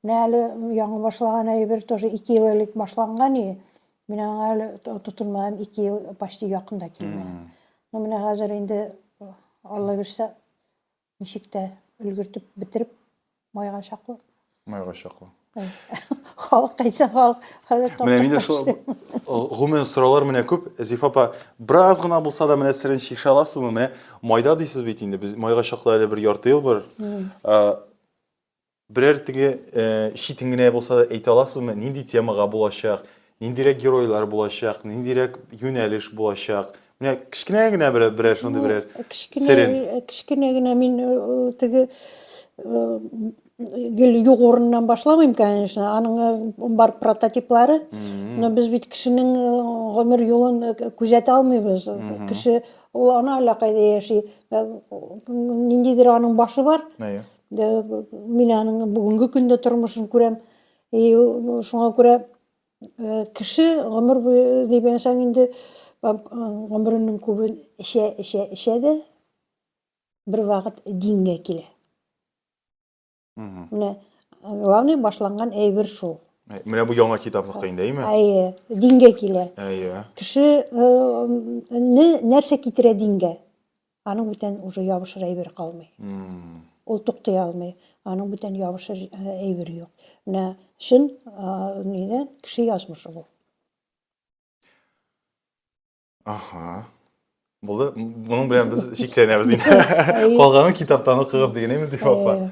Менә әле яңа башлаган әйбер тоже ике ел элек башланган и мин аңа әле тотынмадым ике ел почти якын да килми но менә хәзер инде алла бирсә ничек тә өлгертеп бетереп майга чаклы майга чаклы халык әйтсә халык хәзер менә миндә шул гомумән сораулар менә күп зифа апа бераз гына булса да менә серен чишә аласызмы менә майда дисез бит инде без майга чаклы әле бер ярты ел бар Берәр теге читен генә булса да әйтә аласызмы, нинди темага булачак, ниндирәк геройлар булачак, ниндирәк юнәлеш булачак? Менә кечкенә генә берәр, берәр шундый берәр Кечкенә, серен. кечкенә генә мин э, э, теге э, гел юк урыннан башламыйм, конечно. Аның э, бар прототиплары. Но без бит кешенең э, гомер юлын э, күзәтә алмыйбыз. Кеше ул ана әллә кайда яши. Э, Ниндидер аның башы бар. Әйе. Мин аның бүгенге көндә тормышын күрәм. И шуңа күрә кеше гомер буе дигәнсәң инде гомеренең күбен эчә, эчә, эчә дә бер вакыт дингә килә. Менә главный башланган әйбер шул. Менә бу яңа китаплыкта инде, әйме? Әйе, дингә килә. Әйе. Кеше нәрсә китерә дингә? Аның бүтән уже ябышыр әйбер калмый. Ул туктый алмый. Аның бүтән ябышыр әйбер юк. Менә чын нидән кеше язмышы бу. Аха. Булды. Моның белән без чикләнәбез инде. Калганын китаптан укыгыз дигән имез ди апа.